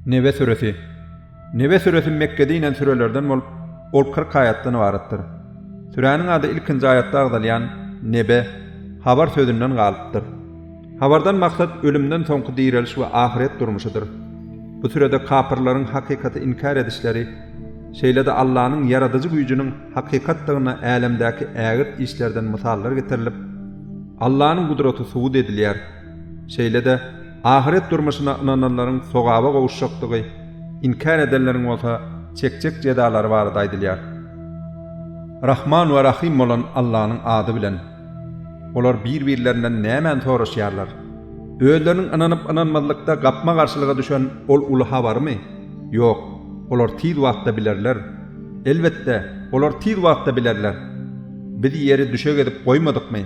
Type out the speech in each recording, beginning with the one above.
Nebe süresi. Nebe süresi Mekgede inen sürelerden bolup, ol kyrk aýatdan ybaratdyr. Süräniň ady ilkinji aýatda agzalýan Nebe, habar sözünden galypdyr. Habardan maksat ölümden soňky direliş we ahyret durmuşydyr. Bu sürede kapyrlaryň hakykaty inkär edişleri, şeýle-de Allanyň ýaradyjy güýjüniň hakykatdygyna älemdäki ägirt işlerden mysallar getirilip, Allanyň gudraty subut edilýär. Şeýle-de, ahyret durmuşyna ynananlaryň sogaba gowuşjakdygy, inkär edenleriň bolsa çekjek jezalary barada aýdylýar. Rahman we Rahym bolan Allanyň ady bilen. Olar bir-birlerinden nämäni soraşýarlar? Özleriniň ynanyp-ynanmazlykda gapma-garşylyga düşen ol uly habarymy? Ýok, olar tiz wagtda bilerler. Elbetde, olar tiz wagtda bilerler. Biz ýeri düşek edip goýmadykmy?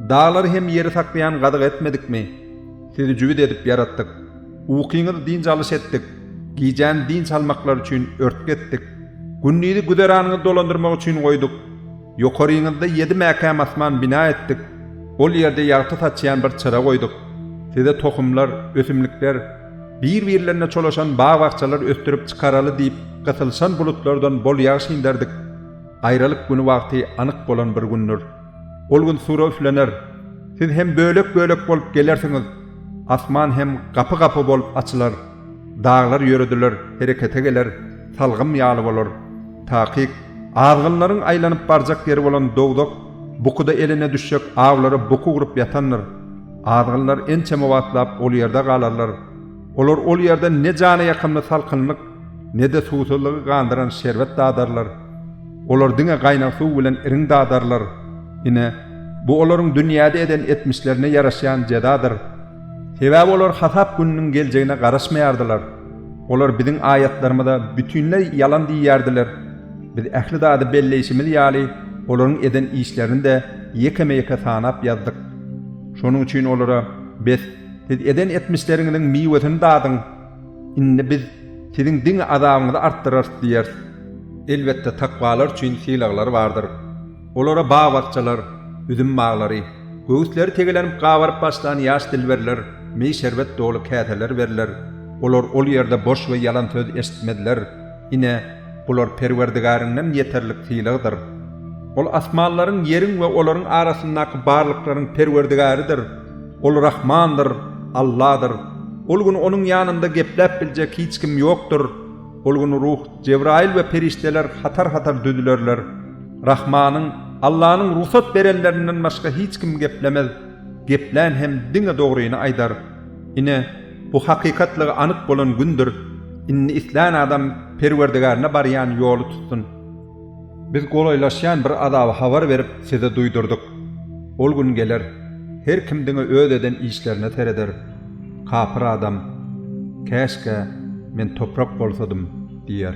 Daglary hem ýeri saklaýan gazyk etmedikmi? Sizi jübüt edip ýaratdyk. Ukyňyzy dynç alyş etdik, gijäni dynç almaklary üçin örtgi etdik. Gündizi güzeranyňyzy dolandyrmak üçin goýduk. Ýokaryňyzda ýedi mäkäm asman bina etdik, ol ýerde ýagty saçýan bir çyra goýduk. Size tohumlar, ösümlikler, bir-birlerine çolaşan bag-bakjalar ösdürip çykaraly diýip, gysylyşan bulutlardan bol ýagyş inderdik. Aýralyk güni wagty anyk bolan bir gündür. Ol gün sura üflener. Siz hem bölek-bölek bolup gelersiňiz. Asman hem gapy-gapy bolup açylar. Daglar ýörediler, herekete geler, salgym ýaly bolar. Takyk, azgynlaryň aýlanyp barjak ýeri bolan dowzah bukuda eline düşjek awlara buky gurup ýatandyr. Azgynlar ençeme wagtlap ol ýerde galarlar. Olar ol ýerden ne jana ýakymly salkynlyk, ne-de suwsuzlygy gandyran şerbet dadarlar. Olar diňe gaýnag suw bilen irin dadarlar. Ine, bu olaryň dünýäde eden etmişlerine ýaraşýan jezadyr. Sebäbi olar hasap gününiň geljegine garaşmaýardylar. Olar biziň aýatlarymyza bütinleý ýalan diýýärdiler. Biz ähli zady belleýşimiz ýaly, olaryň eden işlerini-de ýekeme-ýeke sanap ýazdyk. Şonuň üçin olara, Bes, siz eden etmişleriňiziň miwesini dadyň! Indi biz siziň diňe azabyňyzy artdyrarys diýeris. Elbetde takwalar üçin sylaglar bardyr. Olara bag-bakjalar, üzüm baglary, göwüsleri tegelänip gabaryp başlan ýaş dilberler, meý-şerbet doly käseler berler, olar ol ýerde boş we ýalan söz eşitmezler. Ine, bular Perwerdigäriňden ýeterlik sylagdyr. Ol asmanlaryň, ýeriň we olaryň arasyndaky barlyklaryň Perwerdigäridir. Ol Rahmandyr, Alladyr. Ol gün Onuň ýanynda gepläp biljek hiç kim ýokdur. Ol gün Ruh, Jebraýyl we perişdeler hatar-hatar düzülerler. Rahmanyň, Allanyň, rugsat berenlerinden başga hiç kim geplemez. Geplän hem diňe dogryny aýdar. Ine, bu hakykatlygy anyk bolan gündür. Indi islän adam Perwerdigärine barýan ýoly tutsun. Biz golaýlaşýan bir azaby habar berip, size duýdurdyk. Ol gün geler, her kim diňe öz eden işlerine sereder. Kapyr adam, Käşgä, men toprak bolsadym! diýer.